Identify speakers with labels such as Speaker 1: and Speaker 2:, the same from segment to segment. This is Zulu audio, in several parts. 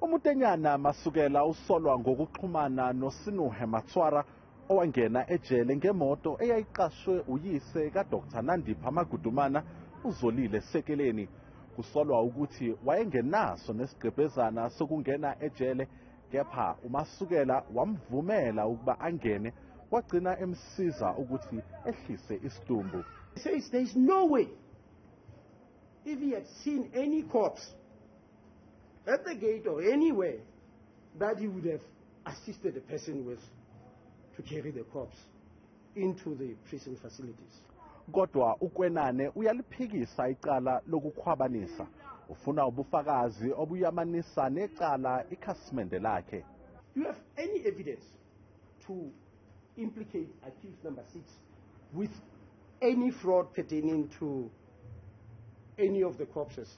Speaker 1: UMutenyana Masukela usolwa ngokuxhumana noSinuhe Matswara owangena ejele ngemoto eyayiqashwe uyise kaDr Nandipha Magudumana uZolile Sekeleni. Kusolwa ukuthi wayengenaso nesigqebhezana sokungena ejele kepha uMasukela wamvumela ukuba angene wagcina emsiza ukuthi ehlise isidumbu. He says there is
Speaker 2: no way if he had seen any corpse At the gate or anywhere that he would have assisted the person with to carry the corpse into the prison facilities. Kodwa
Speaker 1: uKwenane uyaliphikisa icala lokukhwabanisa. Ufuna ubufakazi obuyamanisa necala ikhasimende lakhe. Do you have
Speaker 2: any evidence to implicate accused number 6 with any fraud pertaining to any of the corpses?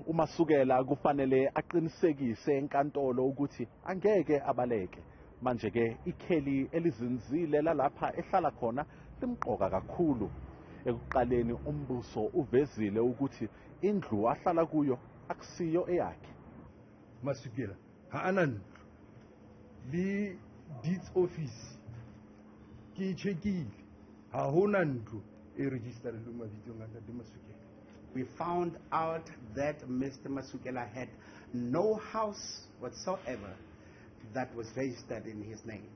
Speaker 1: UMasukela kufanele aqinisekise enkantolo ukuthi angeke abaleke. Manje-ke ikheli elizinzile lalapha ehlala khona limqoka kakhulu. Ekuqaleni umbuso uvezile ukuthi indlu ahlala kuyo akusiyo eyakhe. Masukela
Speaker 3: ha a na ntlo le deeds office ke e checkile ha ho na ntlo e registerilweng mabitsong a ntate Masukela. We found
Speaker 4: out that Mr. Masukela had no house whatsoever that was registered in his name.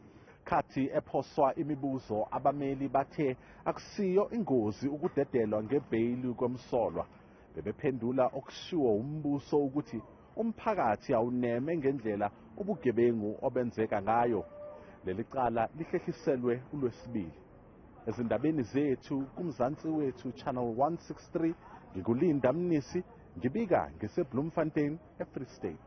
Speaker 4: Khathi
Speaker 1: ephoswa imibuzo abameli bathe akusiyo ingozi ukudedelwa ngebheyili komsolwa bebephendula okushiwo umbuso ukuthi umphakathi awuneme ngendlela ubugebengu obenzeka ngayo leli cala lihlehliselwe ulwesibili Ezindabeni zethu kuMzansi wethu Channel 163 ngikulinda Mnisi ngibika ngiseBloemfontein eFree State.